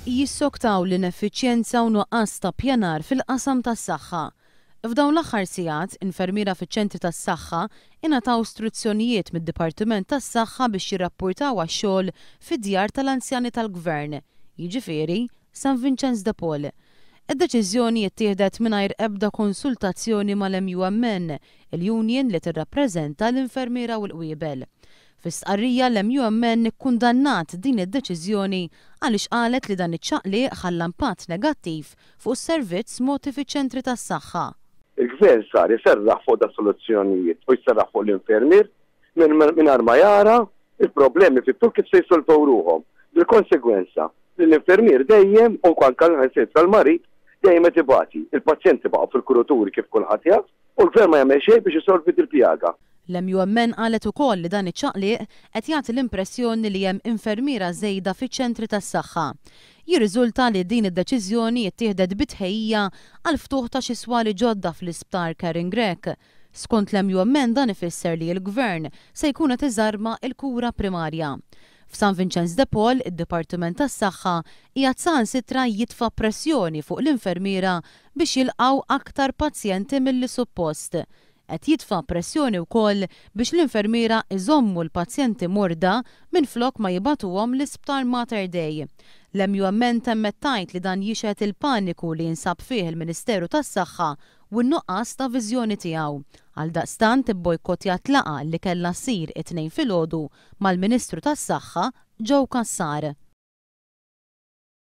jissoktaw l-ineffiċjenza u nuqqas ta' ppjanar fil-qasam tas-saħħa. F'dawn l-aħħar sigħat, infermiera fiċ-ċentri tas-saħħa ingħataw struzzjonijiet mid-Dipartiment tas-Saħħa biex jirrappurtaw għax-xogħol fid-djar tal-anzjani tal-Gvern, jiġifieri, San Vinċenz de Paul. Id-deċiżjoni ttieħdet mingħajr ebda konsultazzjoni mal-MUMN, il-union li tirrappreżenta l-infermiera u l-qwiebel. Fi stqarrija l-MUMN ikkundannat din id-deċiżjoni għaliex qalet li dan iċ-ċaqliq ħalla impatt negattiv fuq is-servizz mogħti fiċ-ċentri tas-saħħa. Il-Gvern sar iserraħ fuq das-soluzzjonijiet u jserraħ fuq l-infermier mingħajr ma jara l-problemi fit-tul kif se jissolvew ruħhom, bil-konsegwenza li l-infermier dejjem u anke saħansitra l-marid dejjem qed ibati. Il-pazjenti baqgħu fil-kuruturi kif kulħadd jaf. U l-Gvern ma jagħmel xejn biex isolvi dil-pjaga. L-MUMN qalet ukoll li dan iċ-ċaqliq qed jagħti l-impressjoni li hemm infermiera żejda fiċ-ċentri tas-saħħa. Jirriżulta li din id-deċiżjoni ttieħdet bi tħejjija għall-ftuħ ta' xi swali ġodda fl-Isptar Karen Grech. Skont l-MUMN dan ifisser li l-Gvern se jkun qed iżarma il-kura primarja. F'San Vinċenz de Paul, id-Dipartiment tas-Saħħa qiegħed saħansitra jitfa' pressjoni fuq l-infermiera biex jilqgħu aktar pazjenti milli suppost. Qed jitfa' pressjoni wkoll biex l-infermiera jżommu l-pazjenti morda minflok ma jibagħtuhom l-Isptar Mater Dei. L-MUMN temmet tgħid li dan jixhed il-paniku li jinsab fih il-Ministeru tas-Saħħa u n-nuqqas ta' viżjoni tiegħu. Għaldaqstant ibbojkottjat laqgħa li kellha ssir it-Tnejn filgħodu mal-Ministru tas-Saħħa Joe Cassar.